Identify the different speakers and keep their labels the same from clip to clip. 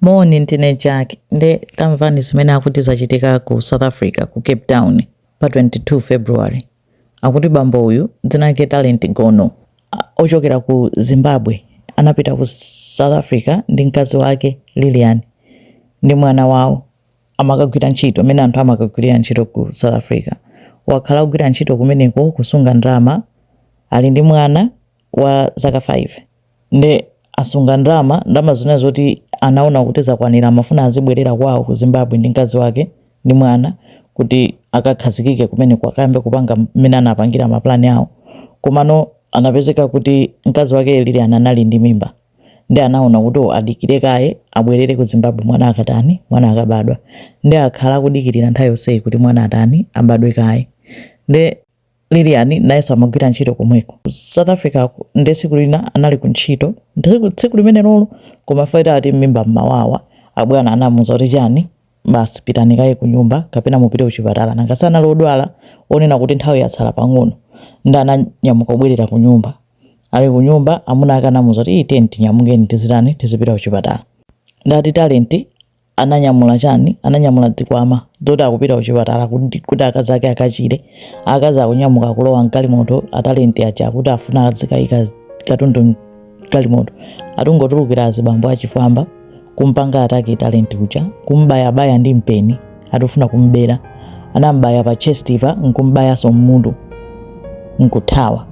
Speaker 1: Moni ndine Jack nde tamvani zimene akuti zachitika ku South Africa ku Cape Town pa 22 February akuti bambo uyu dzina lake Talent Gono ochokera ku Zimbabwe anapita ku South Africa ndi mkazi wake Lilian ndi mwana wawo amakagwira ntchito zimene anthu amakagwirira ntchito ku South Africa wakhala kugwira ntchito kumeneko kusunga ndalama ali ndi mwana wa zaka 5 nde asunga ndalama ndalama zina zoti anaona kuti zakwanira amafuna azibwerera kwawo ku zimbabwe ndi mkazi wake ndi mwana kuti akakhazikike kumeneko akayambe kupanga mmene anapangira mapulani awo komano anapezeka kuti mkazi wake Lilian anali ndi mimba nde anaona kuti oh, adikire kaye abwerere ku zimbabwe mwana akatani mwana akabadwa nde akhala akudikirira nthawi yonseyi kuti mwana atani abadwe kaye nde Lilian nayenso amagwira ntchito komweko South Africako nde tsiku lina anali ku ntchito Tsiku- tsiku limenelolo akumva pain ati mmimba mmawawa abwana anamuuza kuti chani basi pitani kaye ku nyumba kapena mupite kuchipatala nanga sanali odwala wonena kuti nthawi yatsala pang'ono nde ananyamuka kubwerera ku nyumba ali ku nyumba amuna ake anamuuza kuti iyi tiyeni tinyamukeni tizitani tizipita kuchipatala nde ati Talent ananyamula chani ananyamula zikwama zoti akupita kuchipatala kuti, kuti akazi ake akachire akazi akunyamuka kulowa mgalimoto a Talent aja akuti afuna azikayika katundu mgalimoto ati kungotulukira azibambo achifwamba kumpanga attack Talent uja kumbayabaya ndi mpeni ati kufuna kumbera anambaya pa chest pa nkumbayaso mmutu nkuthawa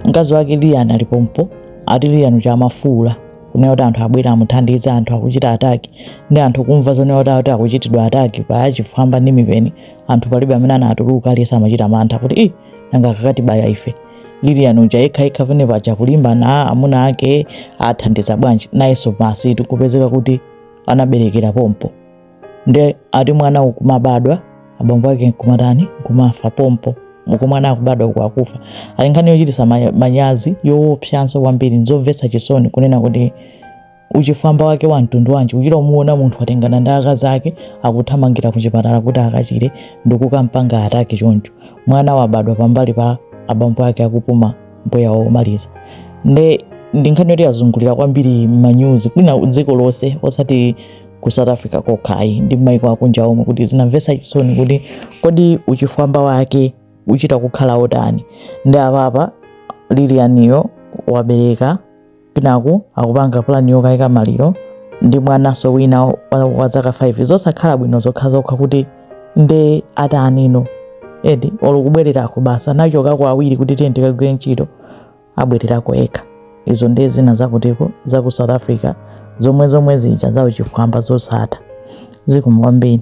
Speaker 1: mkazi wake Lilian ali pompo ati Lilian uja amafuula kunena kuti anthu abwere amuthandize anthu akuchita attack ndi anthu kumva zonena kuti akuti akuchitidwa attack pa achifwamba ndi mipeni anthu palibe amene anatuluka aliyense amachita mantha kuti i nanga akakatibaya ife Lilian uja yekhayekha pene paja kulimbana amuna ake athandiza bwanji nayenso basi ati kupezeka kuti anaberekera pompo nde ati mwana nkumabadwa abambo ake nkumatani nkumafa pompo uko mwana akubadwa uko akufa ndi nkhani yochitisa ma- manyazi yoopsanso kwambiri nzomvetsa chisoni kunena kuti uchifwamba wake wa mtundu wanji uchita kumuona munthu watengana ndi akazi ake akuthamangira ku chipatala kuti akachire ndi kukampanga attack choncho mwana wabadwa pambali pa abambo ake akupuma mpweya womaliza nde ndi nkhani yoti yazungulira kwambiri m'manyuzi kwina dziko lonse osati ku south africa kokha ayi ndi maiko akunja omwe kuti zinamvetsa chisoni kuti kodi uchifwamba wake uchita kukhala otani nde apapa Lilianiyo wabereka kwinaku akupanga pulani yokayika maliro ndi mwananso wina wa zaka 5 zosakhala bwino zokha zokha kuti nde atanino eti ulukubwererako basi anachokako awiri kuti tiye tikagwire ntchito abwererako yekha izo ndiye zina za kutiko za ku south africa zomwe zomwe zija za uchifwamba zosatha zikomo kwambiri